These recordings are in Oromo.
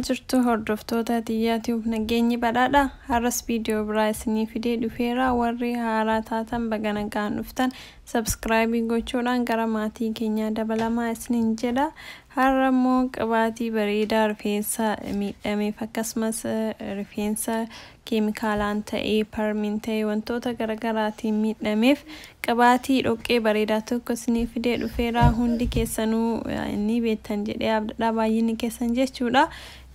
jirtu hordoftoota tiyyaa ti'uuf nageenyi badhaadha har'as viidiyoo biraa isinii fidee dhufeera warri haaraa taatan baga nagaan dhuftan sabskraayibii gochuudhaan gara maatii keenyaa dabalamaa isiniin jedha har'a immoo qibaatii bareedaa rifeensa miidhameef akkasumas rifeensa keemikaalaan ta'ee, parmiin ta'ee wantoota garagaraatiin miidhameef qibaatii dhoqqee bareedaa tokko isinii fidee dhufeera. Hundi keessanuu ni beektan jedhee abdadha baay'inni keessan jechuudha.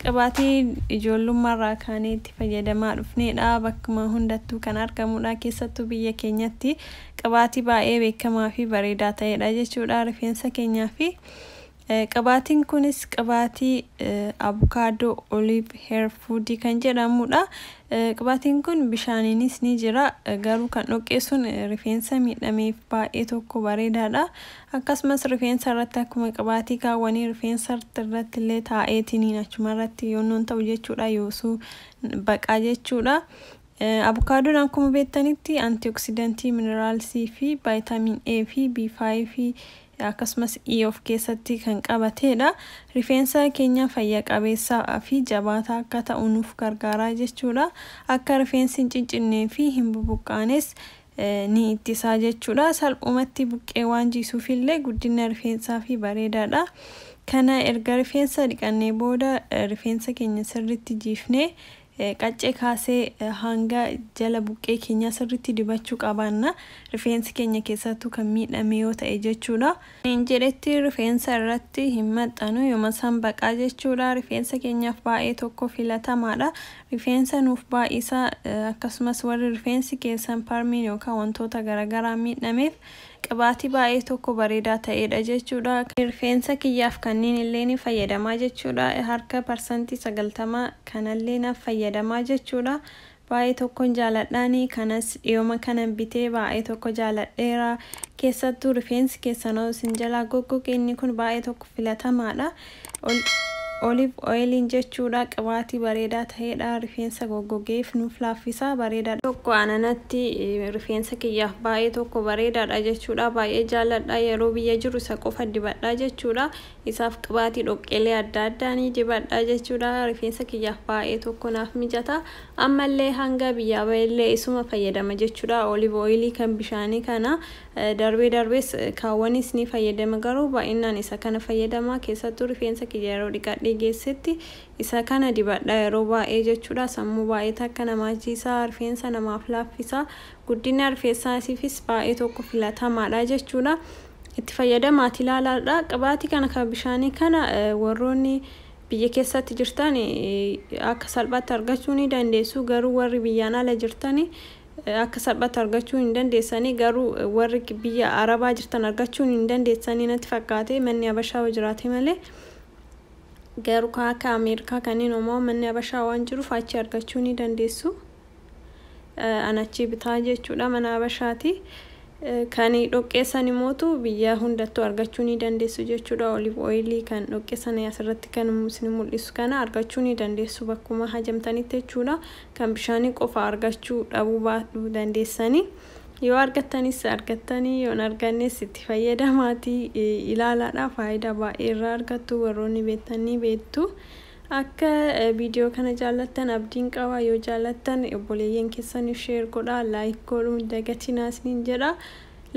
Qibaatii ijoollummaarraa kaanee itti fayyadamaa dhufneedha. Bakkuma hundattuu kan argamudha. Keessattuu biyya keenyatti qibaatii baay'ee beekamaa fi bareedaa ta'eedha jechuudha. Rifeensa keenyaa fi Qibaatiin kunis qibaatii abukaadoo olive hair food kan jedhamudha. Qibaatiin kun bishaaniinis ni jira garuu kan dhoqqee sun rifeensa miidhameef baay'ee tokko bareedaadha. Akkasumas rifeensa irratti akkuma qibaatii kaawwanii rifeensa irratti illee taa'eetiniin achuma irratti yoonnoon ta'u jechuudha yoosuu baqaa jechuudha. Abukaadoon akkuma beektanitti antioksidantii mineraalsii fi vaayitaamin A fi B5 akkasumas E of keessatti kan qabateedha. Rifeensa keenya fayya qabeessa fi jabaataa akka ta'u nuuf gargaara jechuudha. Akka rifeensi hin ciccinnee fi hin bubuqqaanes ni ittisaa jechuudha. Salphumatti buqqee waan jiisuuf illee guddina rifeensaa fi bareedaadha. Kana erga rifeensa dhiqannee booda rifeensa keenya sirriitti jiifnee Qaccee kaasee hanga jala buqqee keenyaa sirriitti dibachuu qabaanna. Rifeensi keenya keessaattuu kan miidhame yoo ta'e jechuudha. Hin jedhetti rifeensa irratti hin maxxanu. Yoma san baqaa jechuudha. Rifeensa keenyaaf baay'ee tokko filatamaadha. Rifeensa nuuf baay'isa. Akkasumas warri rifeensi keessan parmiin yookaan wantoota garagaraan miidhameef Qibaatii baay'ee tokko bareedaa ta'eedha jechuudha. Rifeensa kiyyaaf kanniin illee ni fayyadamaa jechuudha. Harka parsantii 90 kanallee naf fayyadamaa jechuudha. Baay'ee tokkon jaaladhaani kanas dhiyoma kanan bitee baay'ee tokko jaaladheera. Keessattuu rifeensi keessanoo isin jalaa goggoge inni kun baay'ee tokko filatamaadha. Olive oil'n jechuudha qibaatii bareedaa ta'eedha rifeensa goggogeef nuuf laaffisa bareedaadha. tokko ananatti rifeensa kiyyaaf baay'ee tokko bareedaadha jechuudha baay'ee jaalladha yeroo biyya jiru isa qofa dibadha jechuudha isaaf qibaatii dhoqqeelee adda addaa ni dibadha jechuudha rifeensa kiyyaaf baay'ee tokko naaf mijata ammallee hanga biyyaa ba'ellee isuma fayyadama jechuudha olive oilii kan bishaanii kana Darbee darbees kaawwanis ni fayyadama garuu baay'inaan isa kana fayyadama keessattuu rifeensa kiyya yeroo dhiqadhee geessetti isa kana dibadha yeroo baay'ee jechuudha sammuu baay'ee takka namaa jiisa rifeensa namaaf laaffisa guddina rifeessaasiifis baay'ee tokko filatamaadha jechuudha itti fayyadamaati ilaalaadha qibaatii kana kan bishaanii kana warroonni biyya keessatti jirtan akka salphaatti argachuu ni dandeessu garuu warri biyyaan ala jirtan Akka salphaatti argachuu hin dandeessanii garuu warri biyya arabaa jirtan argachuun hin dandeessanii natti fakkaate manni abashaa yoo jiraate malee garuu kan akka ameerikaa kanneen homaa manni abashaa waan jiruuf achi argachuu ni dandeessu an achii bitaa jechuudha mana abashaati kan dhoqqeessan imootu biyya hundattuu argachuu ni dandeessu jechuudha olive oilii kan dhoqqeessan asirratti kan isin mul'isu kana argachuu ni dandeessu bakkuma hajamtanitti jechuudha kan bishaanii qofa argachuu dhabuu baadhu dandeessanii yoo argattanis argattanii yoon argannes itti fayyadamaatii ilaalaadha faayidaa baay'ee irraa argattu warroonni beektan ni beektu akka viidiyoo kana jaallattan abdiin qaba yoo jaallattan obboleeyyan keessaniif sheer godha laayik godhuu hin dagatinaa isiniin jedha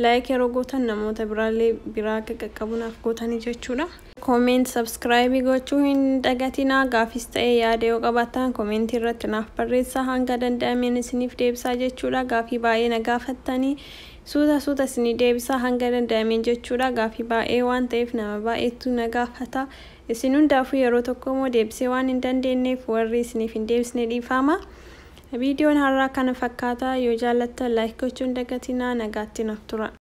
laayik yeroo gootan namoota biraallee biraa akka qaqqabunaaf gootanii jechuudha. Comment subscribe gochuu hin dagatinaa gaafis ta'ee yaada yoo qabaattaan comment irratti naaf barreessaa hanga danda'ameen isiniif deebisaa jechuudha gaafii baay'ee na gaafattanii suuta suuta isinii deebisaa hanga danda'ameen jechuudha gaafii baay'ee waan ta'eef nama baay'eetu na gaafata isin hundaafuu yeroo tokko immoo deebisee waan hin dandeenyeef warri isiniif hin deebisne dhiifaama viidiyoon har'aa kana fakkaata yoo jaallattan like gochuu hin dagatinaa nagaatti naaf tura.